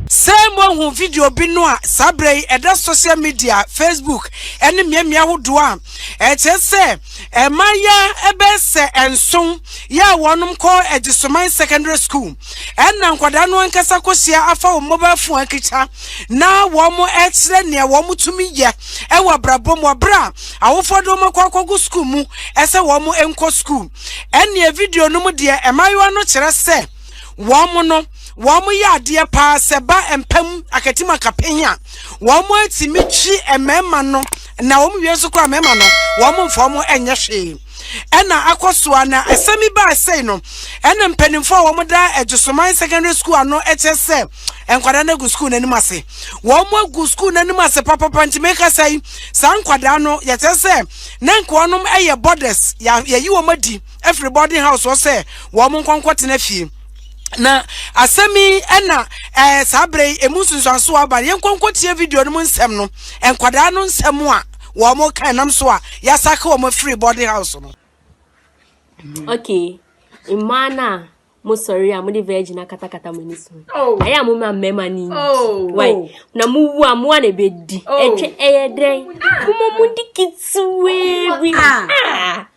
Sɛ moahu video bi no a, saa berɛ yi ɛda social media, Facebook ne mmeammea ahodoɔ a ɛkyerɛ sɛ mmaayaa bɛyɛ sɛ nson yɛ a wɔnom kɔ Agyesoman Secondary School ɛna nkwadaa no ankasa kɔhyia afa wɔn mobile phone akita na wɔn ɛkyerɛ nea wɔn tumi yɛ. wɔ abrabɔ mu bere a awofoɔ de wɔn akɔ akɔgu sukuu mu sɛ wɔn nkɔ sukuu. Ɛnneɛ video no mu deɛ mmaayewa no kyerɛ sɛ wɔn no wɔn yɛ adeɛ paa sɛ ba mpa mu akatim akapen a wɔn atumi twi mmarima no na wɔn wie nso koraa mmarima no wɔn mfa wɔn nyɛ hwee. ɛna akɔ so a na asɛm yi baa sei no ɛna mpanimfoɔ a wɔn da Adwosoman secondary school ano ɛkyɛ sɛ nkwadaa no agu sukuu n'anim ase wɔn agu sukuu n'anim ase papapa nti meka sɛ yi saa nkwadaa no yɛkyɛ sɛ na nkoa nom ɛyɛ borders yɛyi wɔn adi afiri boarding house wɔ sɛ wɔn nkɔnkɔ tena fie na asɛm yi ɛna ɛɛ eh, saa bere yi emu nsunsuanso aba yɛn nkɔnkɔ tie video no mu nsɛm no nkwadaa no nsɛm a wɔka ɛnam so a yɛasake wɔn afiri boarding house no. Mm-hmm. okay mmaa no a mosɔre a mode virgin akatakata mo ani so oh. ayɛ a moma mmarima no oh. wai oh. na mowu a moa na ɛbɛdi ɛtwe ɛyɛ dɛn moma mode ketewaa bi ah. ah.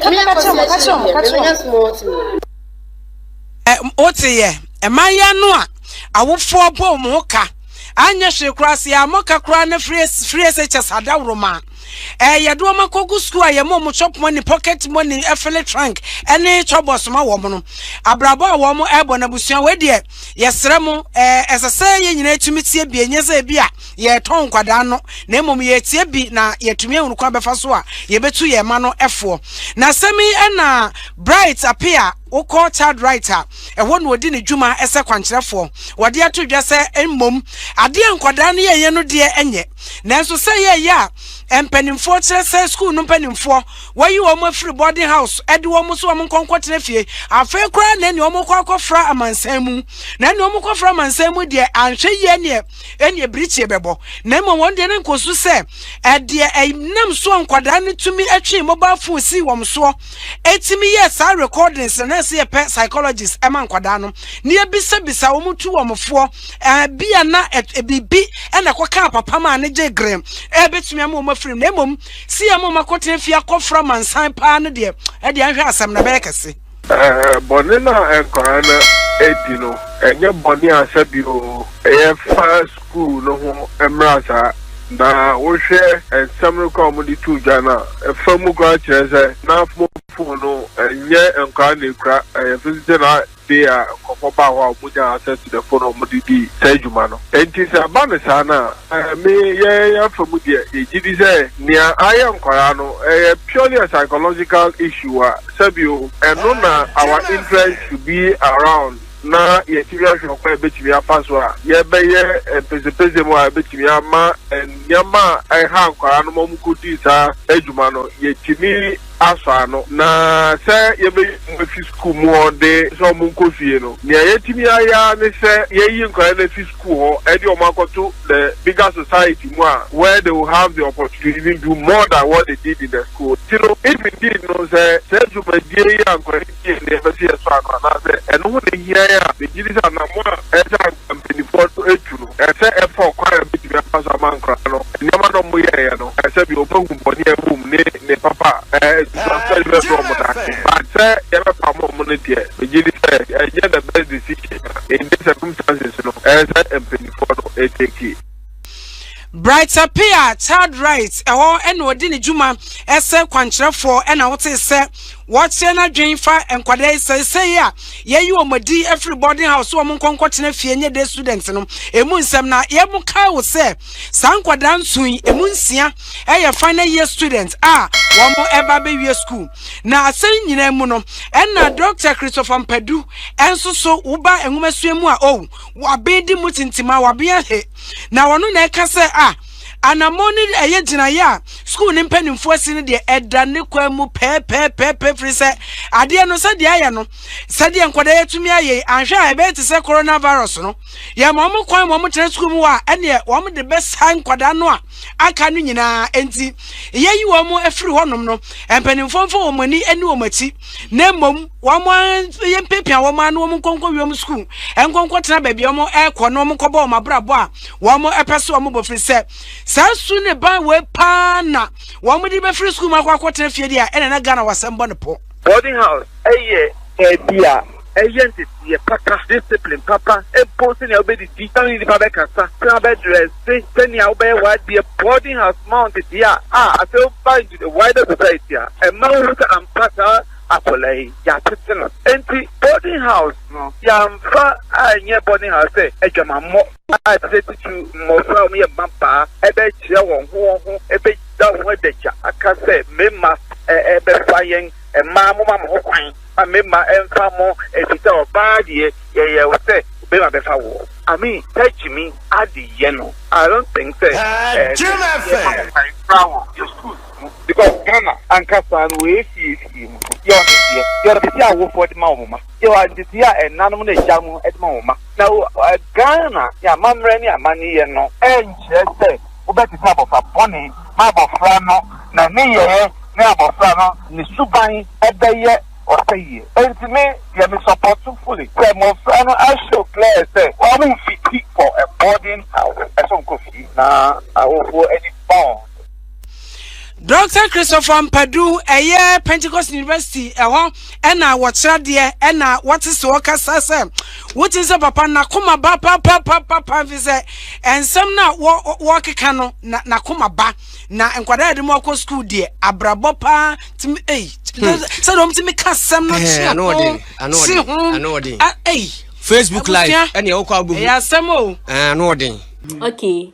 Ɛnna ɛkɔɔ sɛ akyire deɛ, mebɛnya small tea. Ɛ, woteeɛ? Mmayewa no a awofoɔ bɔ wɔn ho ka anyɛ hwee koraa, sɛ yɛammɔ ɔka koraa na free, free SHS adaworoma a, ɛ, yɛde wɔn akɔgu sukuu a yɛma wɔn chop money, pocket money, ɛfele trunk ne chɔbɔs ma wɔn no. Abrabɔ a wɔn ɛrebɔ no, abusua wei deɛ, yɛsrɛ mo, ɛ, ɛsɛ sɛ yɛn nyinaa tumi tie bi, ɛnyɛ sɛ ebi a, yɛretɔn nkwadaa no na mmom yɛretie bi na yɛatumi ahunu kwan bɛfa so a yɛbɛtu yɛn ma no ɛfoɔ na asɛm yi ɛna bright ape a wokɔ child right a ɛhɔ na ɔdi ne dwuma ɛsɛ kwankyerɛfoɔ wɔde ato dwa sɛ mmom adeɛ nkwadaa no yɛyɛ no deɛ ɛnyɛ nanso sɛ yɛyɛ a mpanimfoɔ kyerɛ sɛ sukuu no mpanimfoɔ wɔyi wɔn afiri boarding house ɛde wɔn so wɔn nkɔnkɔtena fie afei koraa na ɛne wɔn kɔ akɔfra amansan mu na ɛne wɔn kɔfra amansan mu deɛ anhwɛ yie neɛ ɛnneɛ birikyeɛ bɛbɔ, na mmom wɔn deɛ no nkɔ so sɛ ɛdeɛ ɛnam soɔ nkwadaa no tumi ɛtwee mobile phone sii wɔn soɔ ɛtumi yɛɛ saa recordings no na ɛsɛ yɛpɛ psychologist ɛma nkwadaa no na yɛbisabisa wɔn tu wɔn foɔ ɛbi a na ɛbibi ɛna ɛkɔ kaa papa maa ne gye grem ɛbɛtumi ama wɔn afirim na mmom si yɛ ma wɔn akɔtena fie akɔfra mansan paa no deɛ ɛdeɛ nhwɛ asɛm na bɛyɛ kɛse Bɔne no a nkwadaa no adi no, ɛnyɛ bɔne a sɛdeɛ yɛfa sukuu no ho mmara saa. Na wohwɛ nsɛm no koraa a wɔde too dwa no a, ɛfa mu koraa kyerɛ sɛ na fon no nyɛ nkwadaa na ɛkura, ɛyɛ visitor na day a nkurɔfoɔ baa hɔ a wɔnyaa access to the phone a wɔde dii saa dwuma no. Enti sɛ ɛba no saa no a, me yɛn afa mu deɛ, yɛgye di sɛ nea ayɛ nkwadaa no, ɛyɛ purely a psychological issue a. Sɛbio, ɛno na our interest should be around na yɛatumi ahwɛ ɔkwan a yɛbɛtumi afa so a yɛbɛyɛ mpesempese mu a ɛbɛtumi ama nneɛma a ɛha nkwadaa no ma wɔkɔdii saa adwuma no yɛatumi asɔ ano. Na sɛ yɛbɛyi wɔn afi sukuu mu a wɔde sɛ wɔnkɔ fie no, nea yɛatumi ayɛ ara ne sɛ yɛayi nkwadaa no afi sukuu school hɔ ɛde wɔn akɔto the bigger society mu a where they will have the opportunity to even do more than what they did in the school ti no if indeed no sɛ sɛ dwumadie yi a nkwadaa yi die ne yɛpɛ sɛ yɛsɔ ano anaasɛ ɛno ho na ehia yɛn a megye di sɛ anamɔ a ɛsɛ a mpanimfoɔ no etu no ɛsɛ ɛfa ɔkwan a ebetumi afa so ama nkwadaa no nneɛma na wɔn yɛɛyɛ no ɛsɛ bi wɔn ahu bɔne a ɛwɔ mu ne ne papa a ɛɛ nsusuaso a ɛde bɛbrɛ wɔn daakye but sɛ yɛbɛpam wɔn no deɛ megye di sɛ ɛnyɛ the best decision. in this circumstances no ɛyɛ sɛ mpanyinfoɔ no ɛteki. Brighter Pia Child Rights ɛhɔ ɛna ɔdi ne dwuma ɛsɛ kwankyerɛfoɔ ɛna wotee sɛ wɔkyerɛ n'adwen fa nkwadaa yi sɛsɛyi a yɛyi wɔn adi ɛfiri boarding house wɔn nkɔ nkɔtena fie nye day student no emu nsɛm na yɛn mo kae wo sɛ saa nkwadaa nson yi emu nsia ɛyɛ final year student a wɔn ɛba bɛwie school. Na asɛm yi nyinaa mu no, ɛna Dɔkta Christopher Mpadu nso so woba nwomasua mu a ow, waben di mu tintim a waben ahe. Na ɔno na ɛka sɛ a anammɔn no ɛyɛ gyinaeɛ a sukuu no mpanimfoɔ asi no deɛ ɛda ne kwan mu pɛɛpɛɛpɛɛpɛ firi sɛ adeɛ no sɛdeɛ ayɛ no sɛdeɛ nkwadaa yɛtumi ayɛ anhwɛ a ɛbɛyɛ te sɛ coronavirus no yɛma wɔn kwan ma wɔn tena sukuu mu hɔ a ɛneɛ wɔn de bɛsa nkwadaa no a aka no nyinaa. Enti, yɛyi wɔn afiri hɔnom no, mpanimfoɔ mfa wɔn ani ne wɔn akyi, na mmom wɔn yɛmpepia wɔn ano wɔn nkɔnkɔ wiem sukuu, nkɔnkɔ tena baabi a wɔn ɛrekɔ na wɔn nkɔbɔ wɔn abrabɔ a wɔn ɛpɛ so wɔn bɔ firi sɛ saa su ne ban wɔ paa na wɔn de bɛfiri sukuu mu akɔ akɔtena fie deɛ ɛna na Ghana wɔasɛm bɔ ne pɔ. Boarding house yɛ baabi a ɛyɛ nteteeɛ papa, discipline papa, mpo sɛnea wobɛdidi, sɛnea wo ne nnipa bɛkasa, sɛnea wobɛdrɛse, sɛnea wobɛyɛ w'adeɛ, boarding house ma wo nteteeɛ a, a afei woba into the wider society a, ɛma wohu sɛ ampa saa akwadaa yi, yɛatete no. Enti boarding house no, yɛamfa anyɛ boarding house sɛ adwamammɔ. a ɛsɛ tutu mmofra a wɔyɛ mmabaa bɛkyerɛ wɔn ho wɔn ho bɛda ho adagya aka sɛ mmarima bɛfa yɛn mmaa mo ma mo ho kwan ma mmarima mfa mo efisɛ ɔbaa deɛ yɛyɛ wo sɛ bɛrima bɛfa wo I mean sɛ gyimi ade yɛ no I don't think sɛ ɛfra wɔ yɛ schools mu because Ghana ankasa no wɔyɛ fie fie mu yɛ ɔne deɛ yɛ ɔde si awofoɔ de ma wɔn ma yɛ ɔde si a ɛnanom ne agya mo de ma wɔn ma. Na wɔ Ghana ne amammerɛ ne amanneɛ no. Ɛnkyerɛ sɛ wobɛtete abɔfra bɔne ma abɔfra no na ne yɛɛ ne abɔfra no ne suban bɛyɛ ɔsɛyie. Enti me deɛ me support fully sɛ mmɔfra no a show clear sɛ wɔn mfiti for a boarding house, ɛsɛ wɔn kɔ fie na awofoɔ ani bond. Doctor Christopher Mpadu, ɛyɛ Pentecost University ɛhɔ ɛna wɔkyerɛ adeɛ ɛna wɔte sɛ wɔkasa sɛ wote sɛ papa n'akoma ba papapapa fi sɛ nsɛm no a wɔkeka no na n'akoma ba na nkwadaa yɛde mu akɔ sukuu deɛ abrabɔ paa tumi ei hmm. sɛ deɛ wɔn tumi ka asɛm no kye ano kye ho ei Facebook live ɛna ɛwɔ kɔ abɔ mu ɛyɛ asɛm o ɛɛ ano ɔden. okay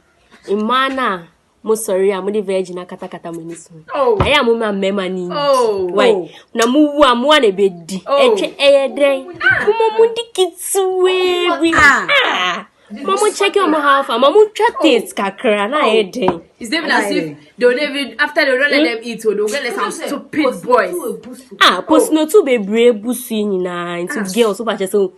mmaa no a. mosɔre a mode virgin akatakata mo ani so oh. ayɛ a moma mmarima no nyi oh. wai oh. na mowu a moa na ɛbɛdi ɛtwɛ ɛyɛ dɛn moma mo di ketewaa bi ah. ah. ma mo check your mo how far ma mo twa taste kakra na ayɛ dɛn it's even as if they will even after they don't let them eat o they will get like some stupid boys ah postinotu bebree busu nyinaa nti ah. girls wọ́n bá kyẹ sẹ́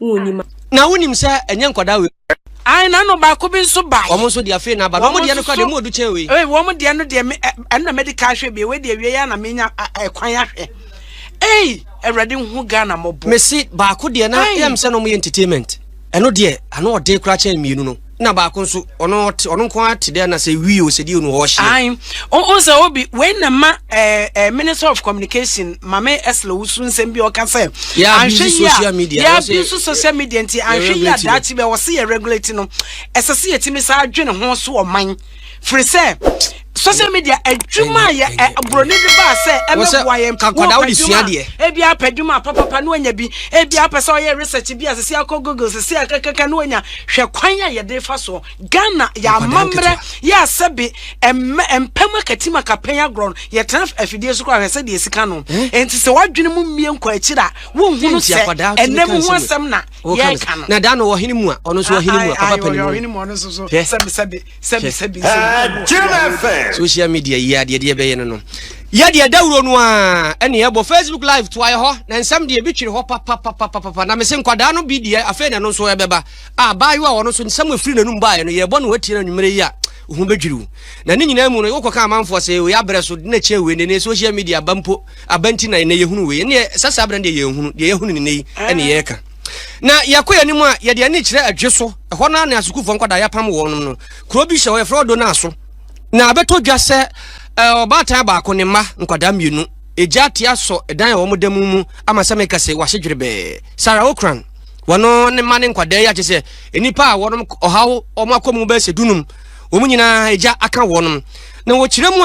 wonnim a. Na wonim sɛ ɛnyɛ nkwadaa wei. Ae, na ɛna baako bi nso bae. Wɔn nso de afei na aba. Na wɔn deɛ no koraa deɛ, emu ɔdu kyɛn wei. Ei, wɔn deɛ no deɛ, me, ɛno na mɛdi kan ahwɛ bie, wei deɛ awie yi ara na menya ɛkwan ahwɛ. Ei, Awurade nhu Ghana mmɔbɔ. Mese, baako deɛ na ɛyɛ me sɛ na wɔyɛ entertainment. Ɛno deɛ, ano ɔden koraa kyɛn mmienu no. na baako nso ɔno ɔte ɔno nko ara te dɛ na sɛ wi o sɛ di o no ɔhyɛ. ayi o o sɛ obi wei na ma ɛɛ eh, ɛɛ eh, minister of communication maame ɛsla wusu nsɛm bi ɔka sɛ. yɛ abuse social media yɛ abuse social media nti anhwɛ yi a daakye bɛ wɔsi yɛ regulate no ɛsɛ sɛ yɛtumi saa adwene ho so ɔman. firi sɛ social media adwuma a yɛ ɛ buroni de ba sɛ ɛbɛboa yɛn kankɔda wode sua deɛ ebi apɛ adwuma papapa na wanya bi ebi apɛ sɛ ɔyɛ research bi a sisi akɔ google sisi akɛkɛkɛ na wanya hwɛ kwan a yɛde fa soɔ ghana yɛamammerɛ yɛ asɛbe ɛmɛ mpɛm akatim akapɛn agorɔ no yɛtena afidie so kora hwɛ sɛ deɛ sika no eh? nti sɛ wadwene mu mmie nkɔ akyiri a wonhunu sɛ ɛnam ho asɛm na yɛka no na da no ɔhene mu a ɔno nso ɔhene mu a papa pɛ ne mu ɔhene mu ɔno nso so sɛbi sɛbi sɛbi sɛbi sɛbi social media yi adeɛ deɛ bɛyɛ no no yɛ deɛ dawuro no a ɛne ɛbɔ facebook live to ayɛ hɔ na nsɛm deɛ bi twere hɔ papapapapapa na mese nkwadaa no bi deɛ afei na ɛno nso ɛbɛba a baayewa a ɔno nso nsɛm efiri n'anum baeɛ no yɛbɔ no watie no anwummerɛ yi a ho bɛdwiriw na ne nyinaa mu no wokɔka amanfoɔ sɛ ɔyɛ abrɛ so na kyɛ wei ne ne social media ba mpo Aban nti na ɛnɛ yɛhunu wei. Ɛnneɛ sɛ saa berɛ no deɛ yɛnhunu. Deɛ yɛhunu ne nnɛ yi ɛne yɛreka. Na yɛkɔ yɛn anim a, yɛde ani kyerɛ adwe so. Ɛhɔ no ara na sukuufoɔ nkwadaa yɛapam wɔn no. Kuro bi hyɛ hɔ, yɛfrɛ hɔ Donaaso. Na abɛtɔ dwa sɛ ɔbaatan baako ne mma nkwadaa mmienu, egya ate asɔ dan a wɔda mu mu ama sɛ meka sɛ wɔahye dwerebɛɛ. Sarah Okran, wɔno ne mma ne nkwadaa yi agye sɛ nnipa a wɔnom ɔhaw wɔn akɔ mu bɛyɛ sɛ dunum. Wɔn nyinaa egya aka wɔnom. Na wɔkyerɛ mu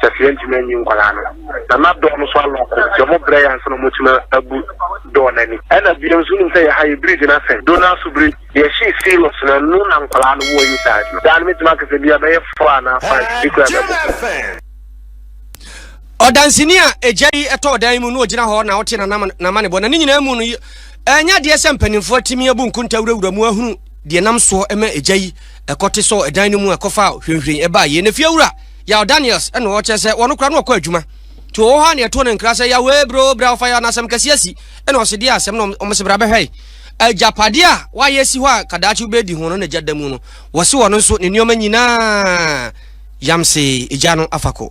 Safira ntumi anyi nkwadaa no, na na dɔɔ no so alɔko nti ɔmo brɛ yɛ ansa na ɔmo atumi abu dɔɔ no ani. Ɛna bio nso wonim sɛ yɛ ha yɛ bridge no asɛn do na so bere yɛ hyee Sirius no ɛno na nkwadaa no wɔ inside no. Daa no mɛtumi aka sɛ bia bɛyɛ four anaa five bi koraa bɛbɔ ho. Ɔdanseni a egya yi tɔɔ dan yi mu no ogyina hɔ na ɔte n'amanebɔ na ne nyinaa mu no ɛnyɛ adeɛ sɛ mpanimfoɔ atumi abu nkonta wurawura mu ahunu deɛ nam soɔ ɛma agya yi ɛkɔte sɔɔ ɛdan no mu a ɛkɔfa hwɛnhwɛn ɛbaa yie na fiewura yaw daniels ɛna ɔkyɛ sɛ wɔn kora no ɔkɔ adwuma nti ɔwɔ hɔ a na ɛto ne nkra sɛ yawee bro bra ɔfa yɛ anasɛm kɛse asi ɛna ɔse deɛ asɛm na ɔmo se bra bɛhwɛ agyapadeɛ a wayɛ si hɔ a kadaakye wobɛdi ho no na gya da mu no wɔse wɔn nso ne nneɛma nyinaa yamse gya no afa kɔ